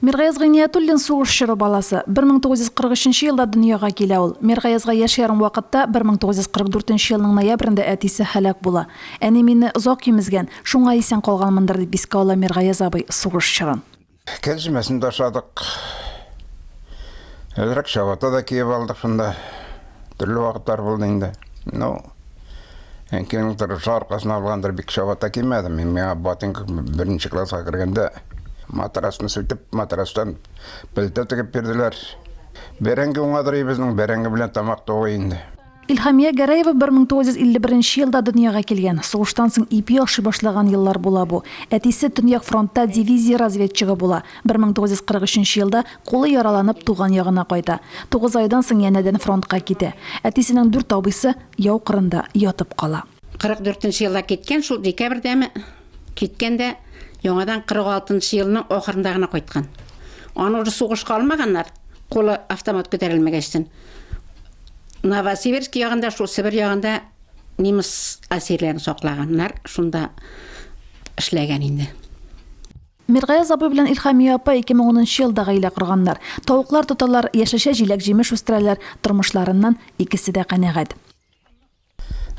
Миргаяз Гыйниятуллин сугыш чоры баласы. 1943 нче елда дөньяга килә ул. Миргаязга яшь ярым вакытта, 1944 нче елның ноябрендә әтисе һәлак була. Әни мине озак имезгән, шуңа исән калганмындыр, дип искә ала Миргаяз абый сугыш чорын. Кәрҗемәсен дә ашадык. Әзрәк чабата да киеп алдык шунда. Төрле вакытлар булды инде. Ну. Әнкәйнең торышы аркасына алгандыр, бик чабата кимәдем. Мин миңа ботинка беренче класска кергәндә матрасны сүтеп, матрастан пелтә тегеп бирделәр. Бәрәңге уңадыр безнең, бәрәңге белән тамак тугы инде. Илһамия Гәрәева 1951 елда дөньяга килгән. Сугыштан соң ипи ашый башлаган еллар була бу. Әтисе Төньяк фронтта дивизия разведчигы була. 1943 елда Кулы яраланып, туган ягына кайта. Тугыз айдан соң янәдән фронтка китә. Әтисенең дүрт абыйсы яу кырында ятып кала. 44 нче елда киткән, шул декабрьдәме киткән дә яңадан 46 нчы елның ахырында гына кайткан. Аны уже сугышка алмаганнар, кулы автомат күтәрелмәгәчтен. Новосибирск ягында, шул Себер ягында немец әсирләрен саклаганнар, шунда эшләгән инде. Миргаяз абый белән Илхамия апа 2010 нчы елда гаилә корганнар. Тавыклар тоталар, яшелчә, җиләк-җимеш үстерәләр, тормышларыннан икесе дә канәгать.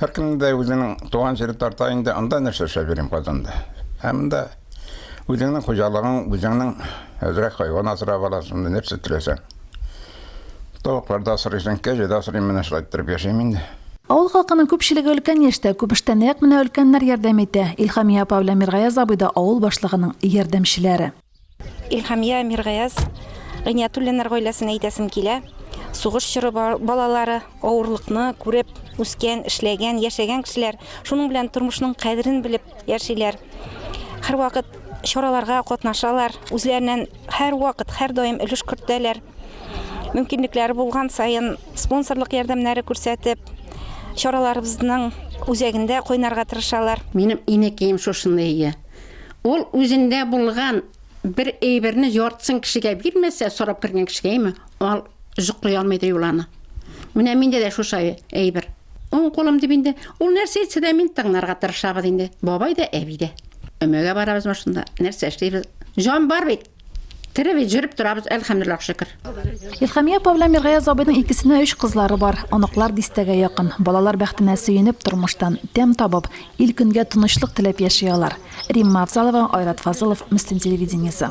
Һәркемнең дә үзенең туган җире тарта инде, анда нәрсә эшләп йөрим Казанда? Ә монда үзеңнең хуҗалыгың, үзеңнең әзрәк хайван асрап аласың, нәрсә теләсәң. Тавыклар да асрыйсың, кәҗә дә асрыйм, менә шулай иттереп яшим инде. Авыл халкының күпчелеге өлкән яшьтә, күбештә нәкъ менә өлкәннәр ярдәм итә. Илһамия апа белән Миргаяз абый да авыл башлыгының ярдәмчеләре. Илһамия, Миргаяз, Гыйниятуллиннар гаиләсен әйтәсем килә. Сугыш чоры балалары, авырлыкны күреп үскән, эшләгән, яшәгән кешеләр, шуның белән тормышның кадерен белеп яшиләр. Һәрвакыт чараларга катнашалар, үзләреннән Һәрвакыт, һәрдаим өлеш кертәләр. Мөмкинлекләре булган саен спонсорлык ярдәмнәре күрсәтеп, чараларыбызның үзәгендә кайнарга тырышалар. Минем инәкием шушыны ия. Ул үзендә булган бер әйберне яртысын кешегә бирмәсә, сорап кергән кешегә, әйме, ал, Өзек куя алмыйдыр юл аны. Менә миндә дә шушай әйбер. Уң кулым дип инде. Ул нәрсә әйтсә дә мин тыңларга тырышабыз инде. Бабай да, әби дә. Өмәгә барабыз машинда. Нәрсә эшлибез? Җан бар бит. Тере бит, җөреп торабыз, әлхәмдулиллах шөкер. Илхамия апа белән Миргаяз абыйның икесенә өч кызлары бар. Оныклар дистәгә якын. Балалар бәхетенә сөенеп, тормыштан тәм табып, ил-көнгә тынычлык теләп яши алар. Римма Афзалова, Айрат Фазылов, Мөслим телевидениесе.